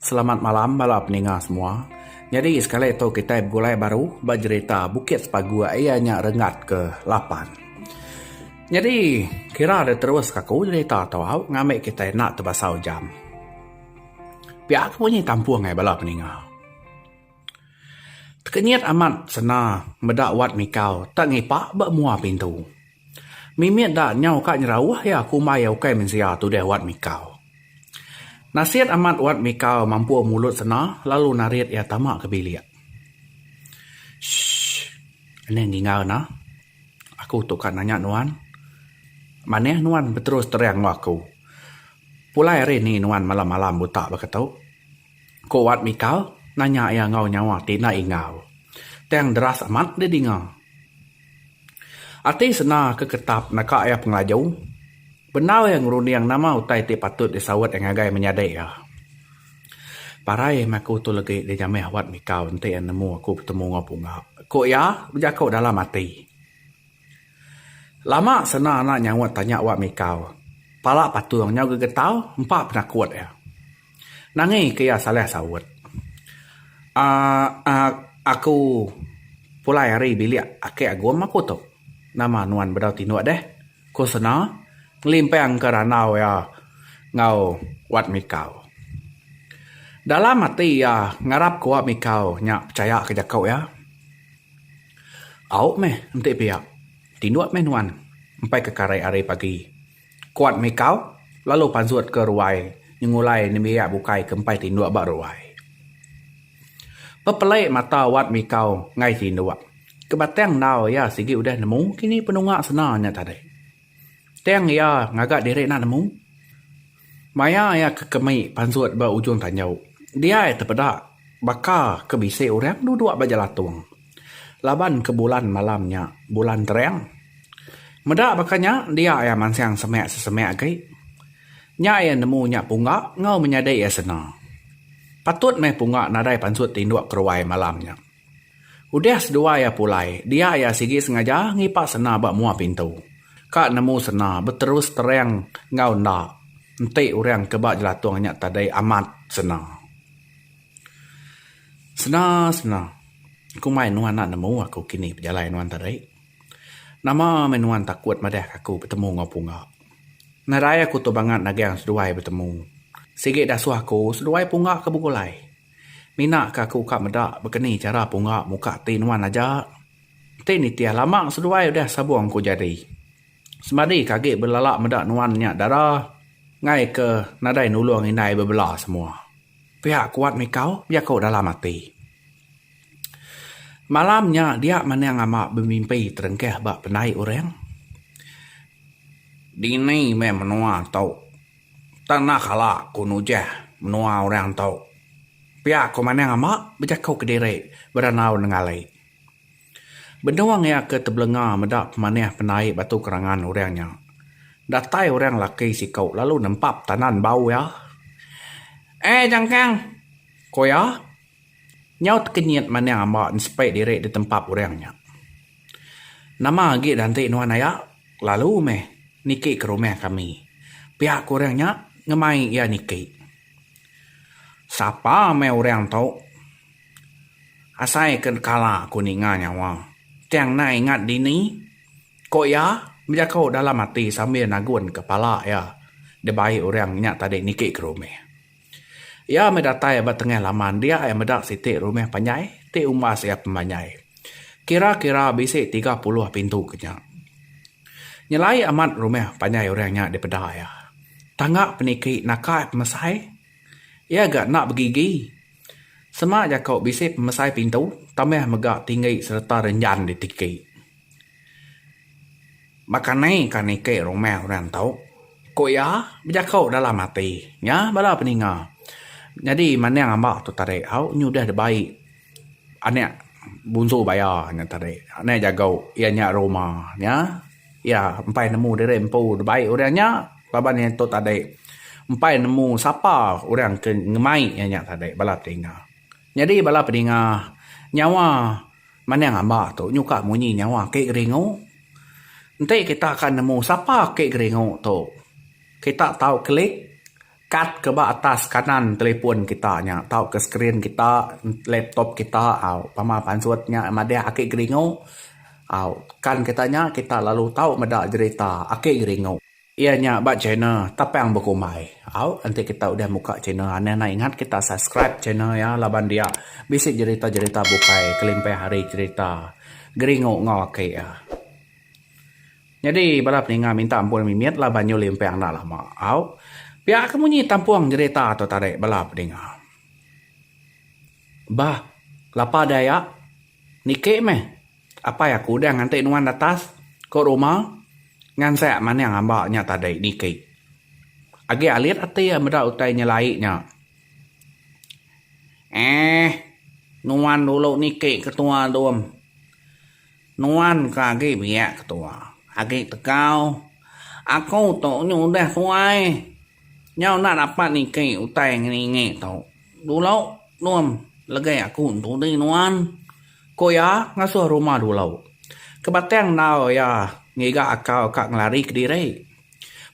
Selamat malam bala peninga semua. Nyadi sekali tu kitai begulai baru ba jerita Bukit Sepaguk iya nya renggat ke lapan. Nyadi kira diterus ka aku jerita tu au ngambi kitai enda tebasau jam. Pia ke munyi kampung ai bala peninga. Tekenyit amat senda meda wat mikau tak ngipak ba mua pintu. Mimit da nyau ka nyerauh iya aku umbai iya ukai mensia tudah Wat Mikau. Nasit amat Wat Mikau mampur mulut sena lalu narit iya tama ke bilik. Shh. Enda ninga ena. Aku tu ka nanya nuan. Manah nuan beterus terang enggau aku. Pulai hari ni nuan malam-malam buta baka tu? Ku Wat Mikal nanya iya enggau nyawa ti enda ingau. Tang deras amat dia dinga. Ati senda ke ketap naka iya pengelaju. Bendar iya ngerunding nama utai ti patut disaut iya ngagai menyadi iya. Parai meh aku tu legi dijamah Wat Mikal enti iya nemu aku betemu enggau Punga, ku iya bejaku dalam ati. Lama senda enda nyaut tanya Wat Mikal. Pala patung nyau gegetar empa penakut iya. Nangi ke iya salah saut. Aaa aak aku pulai ari bilik ake Agum aku tu. Nama nuan bedau tinduk deh? Ku Sena ngelimpang ke randau iya enggau Wat Mikau. Dalam ati iya ngarap ke Wat Mikau nya pechaya ke jaku iya. Au meh enti pia. Tinduk meh nuan empai ke karai ari pagi. Kuat mikau lalu pansut ke ruai nyengulai nembiak bukai ke empai tinduk ba ruai. Pepelai mata Wat Mikau enggai tinduk ke batang endau iya sigi udah nemu kini penunga sena nya tadi. Tang iya ngaga diri enda nemu. Maya iya ke kemi pansut ba ujung tanjau, dia iya tepeda baka ke bisi orang duduk ba jelatung. Laban ke bulan malam nya bulan terang. Meda baka nya dia iya mansang semak sesemak agi. Nya iya nemu nya pungga enggau menyadi iya sena. Patut meh pungga nadai pansut tinduk keruai malam nya. Udah seduai iya pulai, dia iya sigi sengaja ngipak sena ba mua pintu. Ka nemu sena beterus terang enggau enda. Enti orang ke ba jelatung nya tadi amat sena. Sena sena. Ku mai nuan enda nemu aku kini pejalai nuan tadi. Nama meh nuan takut madahka aku betemu enggau Punga. Nadai aku tu bangat nagang seduai betemu. Sigi dasuh aku seduai Punga ke begulai. Mina ke aku ka meda bekeni chara Punga muka ati nuan aja. Enti nitih lama seduai udah sabung ku jadi. Semadi ke agi belala meda nuan nya dara ngaika nadai nulung indai bebela semua. Pia kuat mikau jaku dalam ati. Malam nya dia Manang Ama bemimpi terengkah ba pendai orang. Dini meh menua tu. Tanah kala ku nujah menua orang tu. Pia ku Manang Ama bejaku kediri berandau nenggali. Benung iya ke tebelenga meda pemanih pendai batu kerangan orang nya. Datai orang laki siku lalu nempap tanan bau iya. Eh Jangkang! ku iya. Nyaut kenyit maning amba nsepi diri ditempap orang nya. Nama agi nanti nuan aya? Lalu meh niki ke rumah kami. Pia ku orang nya ngemai iya niki. Sapa meh orang tu? Asai ke kala aku ninga nyawa. Tang enda ingat dini? Ko iya bejako dalam ati sambil nagun ke pala iya dibai orang nya tadi niki ke rumah. Iya meh datai ba tengah laman dia iya meda siti rumah panjai ti umbas iya pembanjai. Kira kira bisi tiga puluh pintu ke nya. Nyelai amat rumah panjai orang nya dipeda iya. Tangga peniki naka iya pemesai. Iya ga enda begigi. Sema jako bisi pemesai pintu tambah mega tinggi sereta renjan di tiki. Baka ni ka niki rumah orang tu? ku iya bejako dalam ati nya bala peninga. Nyadi mandang amba tu tadi au nyudah dibai anak bunsu baya nya tadi. Anak jago iya nya rumah nya. Iya empai nemu diri empu dibai orang nya laban iya tu tadi empai nemu sapa orang ke ngemai iya nya tadi bala pedinga. Nyadi bala pedinga nyawa manang amba tu nyuka munyi nyawa ake geringu. Enti kita ka nemu sapa ake geringu tu kita tau klik. Kad ke ba atas kanan telefon kita nya tauka skrin kita laptop kita au pama pansut nya madah ake geringu au kan kita nya kita lalu tau meda jerita ake geringu. Iya nya ba channel Tapang Bekumbai au enti kita udah muka channel anang nai ingat kita subscribe channel iya laban dia bisi jerita-jerita bukai kelimpah ari jerita geringu enggau ake iya. Nyadi bala peninga minta Empun Mimit la banyu limpang enda lama au. Pia ke munyi tampung jerita tu tadi bala peninga. Bah lapa deh ya. Niki meh apai aku udah nganti nuan atas ko rumah ngansak maning amba nya tadi niki. Agi alit ati iya meda utai nyelai nya. Eeh nuan dulu niki ketua dom. Nuan ka agi biak ke tua. Agi tegau. Aku tu nyu udah tua ai. Nyau enda dapat niki utai ngeningi tu. Dulu num legi aku entudi nuan. Ku iya ngasuh rumah dulu. Ke batang endau iya ngiga akau ka ngelari kediri.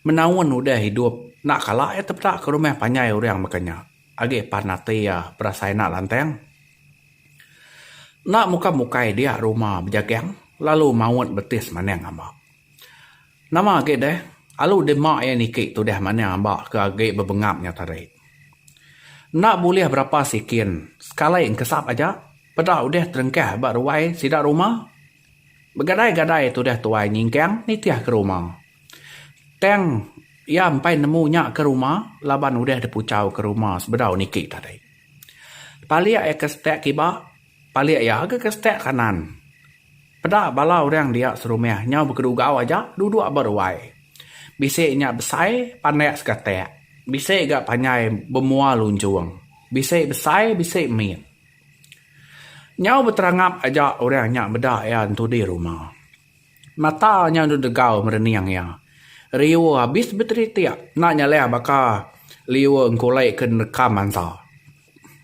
Menaun udah idup enda kala iya tepeda ke rumah panjai orang baka nya. Agi pan ati iya berasai enda lantang. Enda muka mukai dia rumah bejagang lalu maut beti semandang amba. Nama agi deh, alu dema iya niki tudah mandang amba ke agi bebengap nya tadi. Enda bulih berapa sikin, sekali engkesap aja peda udah terengkah ba ruai sida rumah Begadai-gadai tudah tuai nyingkang nitih ke rumah. Tang iya empai nemu nya ke rumah laban udah dipuchau ke rumah sebedau niki tadi. Palik iya ke setak kiba, palik iya agi ke setak kanan. Peda bala orang dia serumah nyau bekedugau aja duduk ba ruai. Bisi nya besai pandak segatak, bisi ga panjai bemua lunjung, bisi besai bisi mit. Nyau beterangap aja orang nya meda iya entu di ruma. Mata nya enda degau merening iya. Riu abis beteritik enda nyalih baka liu engkulai ke nerka manta.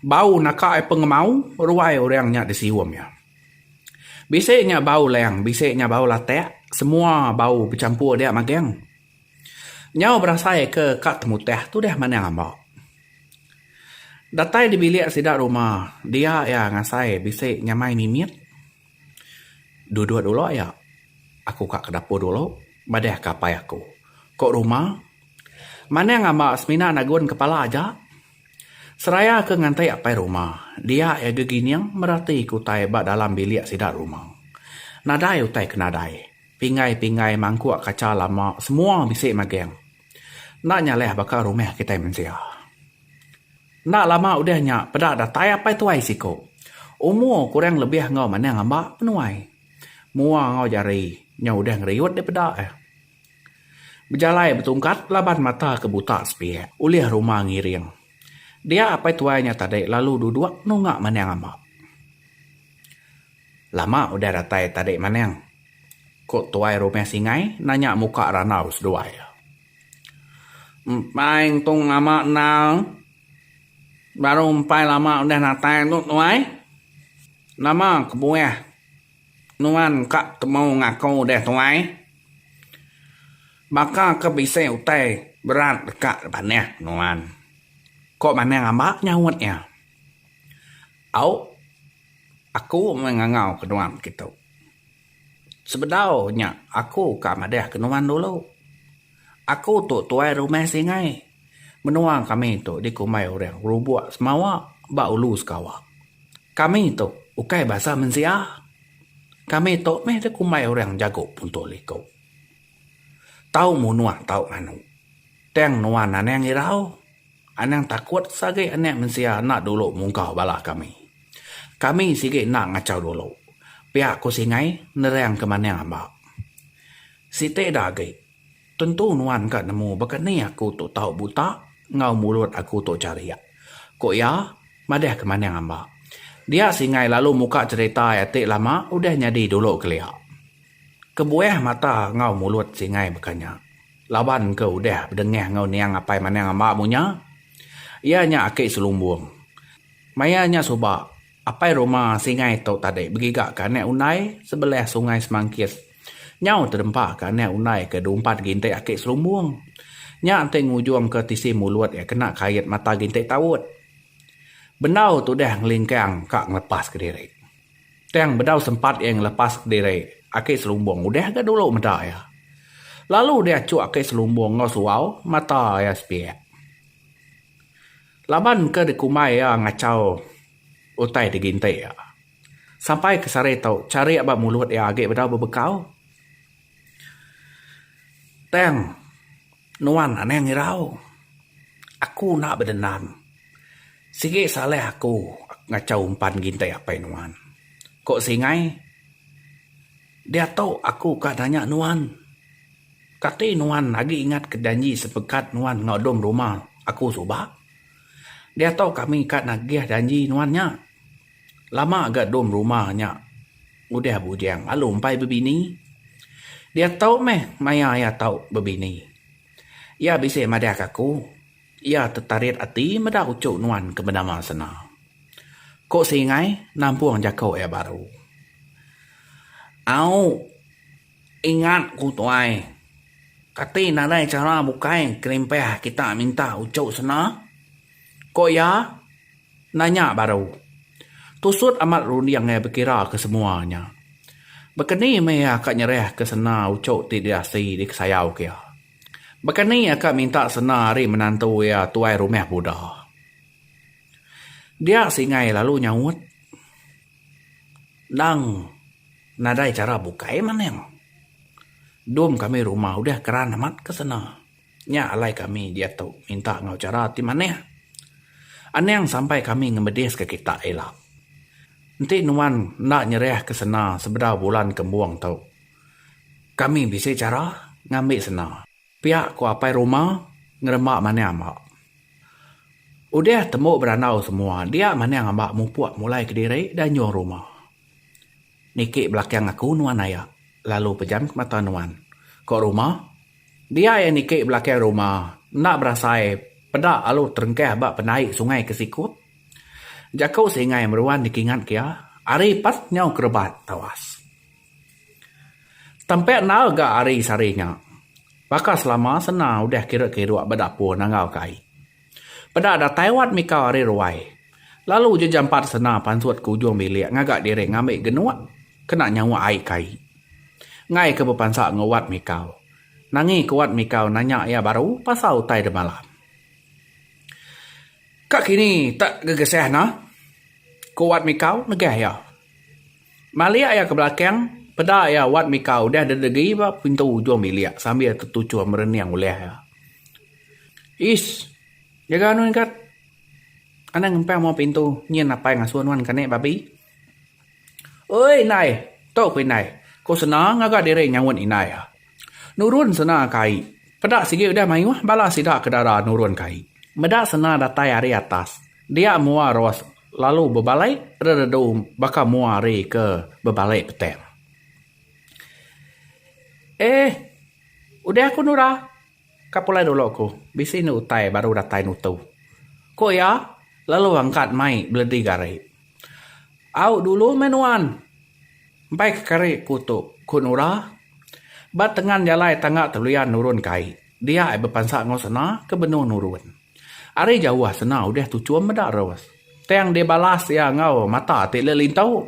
Bau naka iya pengemau ruai orang nya disium iya. Bisi nya bau leng bisi nya bau latak semua bau bechampur dia magang. Nyau berasai ke ka temuteh tu deh manang amba. Datai dibilik sida ruma dia iya ngasai bisi nyamai mimit. Duduk dulu iya. Aku ka ke dapur dulu madahka apai aku. Ko ruma manang amba semina nagun kepala aja. Seraya ke nganti apai ruma dia iya gegining merati ke utai ba dalam bilik sida ruma. Nadai utai ke nadai. Pingai-pingai mangkuk kaca lama semua bisi magang. Enda nyalih baka rumah kitai mensia. Enda lama udah nya peda datai apai tuai siku. Umur kurang lebih enggau manah ngamba menuai. Mua enggau jari nya udah ngeriut dipeda eh. Bejalai betungkat laban mata ke buta sepiak ulih rumah ngiring. Dia apai tuai nya tadi lalu duduk nunga manah ngamba. Lama udah datai tadi maneng? ku tuai rumah Singai nanya muka randau seduai iya. Empai entung lama enda. Baru empai lama udah datai tu tuai. Nama kebuah nuan ka temu ngaku deh tuai? Baka ke bisi utai berat deka dipanah nuan? ku maneng amba nyaut iya. Au. Aku meh ngangau ke nuan kitu. Sebedau nya aku ka madah ke nuan dulu. Aku tu tuai rumah Singai. Menua kami tu dikumbai orang Rubok Semawa ba Ulu Sekawa. Kami tu ukai basa mensia. Kami tu meh dikumbai orang Jago Punto Liko. Tau munua tau nganu. Tang nuan anang irau. Anang takut sagi anak mensia enda dulu mungka bala kami. Kami sigi enda ngachau dulu, pia ku Singai nerang ke manah amba. Siti da agi, tentu nuan ka nemu baka ni aku tu tau buta enggau mulut aku tu charik, ku iya madah ke manah amba. Dia Singai lalu muka cherita iya ti lama udah nyadi dulu kelia. Kebuah mata enggau mulut Singai baka nya. Laban ke udah bedengah enggau niang apai manang amba mu nya, iya nya aki selumbung. Maya nya suba, apai rumah Singai tu tadi begiga ke anak undai sebelah Sungai Semangkis. Nyau tedempa ke anak undai ke diumpat gintik aki selumbung. Nya enti ngujung ke tisi mulut iya kena kait mata gintik taut. Bendau tudah ngelingkang ka ngelepas kediri. Tang bedau sempat iya ngelepas kediri aki selumbung udah ga dulu meda iya. Lalu dia achuk aki selumbung enggau suau mata iya sepiak. Laban ke dikumbai iya ngachau utai diginti iya. Sampai ke sehari tu, charik ba mulut iya agi bedau bebekau. Tang nuan anang irau. Aku enda bedendam. Sigi salah aku ngachau umpan ngintai apai nuan. Ko Singai, diatu aku ka nanya nuan. Kati nuan agi ingat ke janji sepekat nuan enggau dom rumah aku suba? Diatu kami ka nagih janji nuan nya. Lama ga dom rumah nya udah bujang lalu empai bebini. Dia tau meh maya iya tau bebini. Iya bisi madahka aku, iya tetarit ati meda uchu nuan ke benama sena. Ko Singai nampung jako iya baru. Au. Ingat ku tuai. Kati nadai chara bukai kelimpah kita minta uchu sena? Ko iya nanya baru. Tusut amat runding iya bekira ke semua nya. Bekeni meh iya ka nyerah ke sena uchu ti diasi dikesayau ke iya. Bekeni iya ka minta sena ari menantu iya tuai rumah buda. Dia singai lalu nyaut. Endang nadai chara bukai maneng. Dom kami rumah udah keran amat ke sene. Nya alai kami diak tu minta enggau chara ti manah. Anang sampai kami ngemedis ke kita ila. Enti nuan enda nyerah ke sene sebedau bulan kembung tu, kami bisi chara ngambi sene. Pia ku Apai Ruma ngeremba maning amba. Udah tembu berandau semua dia maning amba mupuk mulai kediri da nyuh ruma. Niki belakang aku nuan aya lalu pejam ke mata nuan. Ko Ruma. Dia iya niki belakang ruma enda berasai peda alu terengkah ba penai sungai ke sikut. Jaku Singai meruan dikingat ke iya ari pas nyau kerebat tawas. Tempe endar ga ari sehari nya. Baka selama sena udah kiru-kiru ba dapur nangau kai. Peda datai wat mikau ari ruai. Lalu ja jampat sena pansut ke ujung bilik ngaga diri ngambi genuk kena nyauk ai kai. Enggai ke bepansa enggau wat mikau. Nangi ke wat mikau nanya iya baru pasal utai demalam. Ka kini tak gegesah nah? Ku wat mikau negah iya. Malik iya ke belakang, peda iya wat mika udah dedegi ba pintu ujung bilik sambil tetuchur merening ulih iya. Ish! Jaga anu nya gat. Anang ngempang muang pintu, nyin apai ngasuh nuan kani babi. Oi indai! Tu ku indai, ku Sena ngaga diri nyaut indai iya. Nurun Sena ka ai. Peda sigi udah mayuh bala sida ke dara nurun ka ai. Meda Sena datai ari atas, dia mua Ros Lalu bebalai reredu baka mua hari ke bebalai petang. Eh, udah aku nura. Ka pulai dulu ku, bisi enda utai baru datai nutu. Ku iya lalu angkat mai beledi gari. Au dulu meh nuan. Empai ke kari ku tu, ku nura. Ba tengan jalai tangga teluyan nurun kai, dia ai bepansa enggau sena ke benung nurun. Ari jauh senang udah tu chum meda terus. Tang dia balas iya enggau mata ti leh lintu.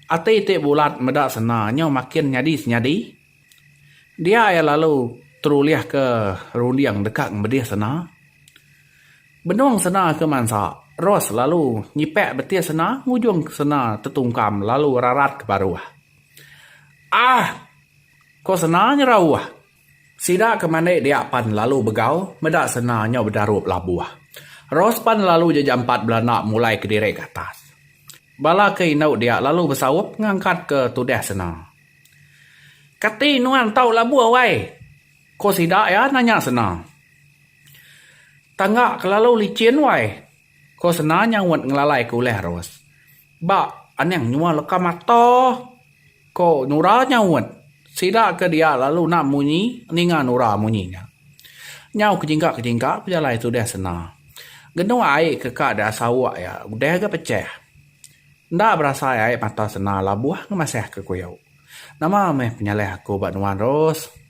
Ati ti bulat meda sena nyau makin nyadi senyadi. Dia iya lalu terulih ke runding deka ngemedih sena. Benung sena ke mansa, Ros lalu nyipak betih sena ngujung sena tetungkam lalu rarat ke paruh. Aah! ko sena nyerauh. Sida ke mandi dia pan lalu begau meda sena nyau bedarup labuh. Ros pan lalu ja jampat belanda mulai kediri ke atas. Bala ke indu dia lalu besaup ngangkat ke tudah sena. Kati nuan tau labuh wai? ko sida iya nanya sena. Tangga ke lalu licin wai, ko sena nyaut ngelalai ke ulah Ros. Ba aning nyua leka mata, ko Nora nyaut. Sida ke dia lalu enda munyi ninga Nora munyi nya. Nyau kejingka-kejingka pejalai tu deh sena. Genuk ai ke ka deh sauk iya udah ga pechah. Enda berasai ai mata sena labuh ngemasah ke kuyo. Nama meh penyalah aku ba nuan Ros?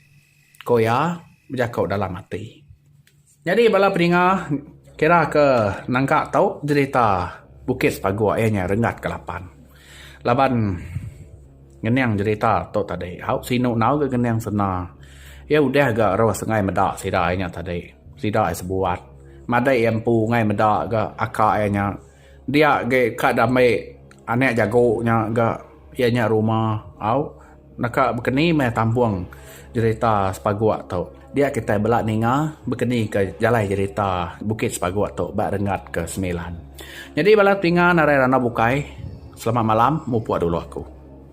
ko iya bejako dalam ati. Nyadi bala pedinga kira ke nangka tau jerita Bukit Sepaguk iya nya Renggat ke Lapan. Laban ngening jerita tu tadi hau sinu enggau ga ngening sena iya udah ga rus ngai meda sida iya nya tadi. Sida iya sebuat madai iya empu ngai meda ga aka iya nya. Dia agi ka diambi anak jagu nya ga iya nya rumah au naka bekeni meh tampung jerita sepaguk tu. Dia kitai bela ninga bekeni ka jalai jerita bukit sepaguk tu ba renggat ke semilan. Nyadi bala tinga narai randau bukai selamat malam mupuk dulu aku.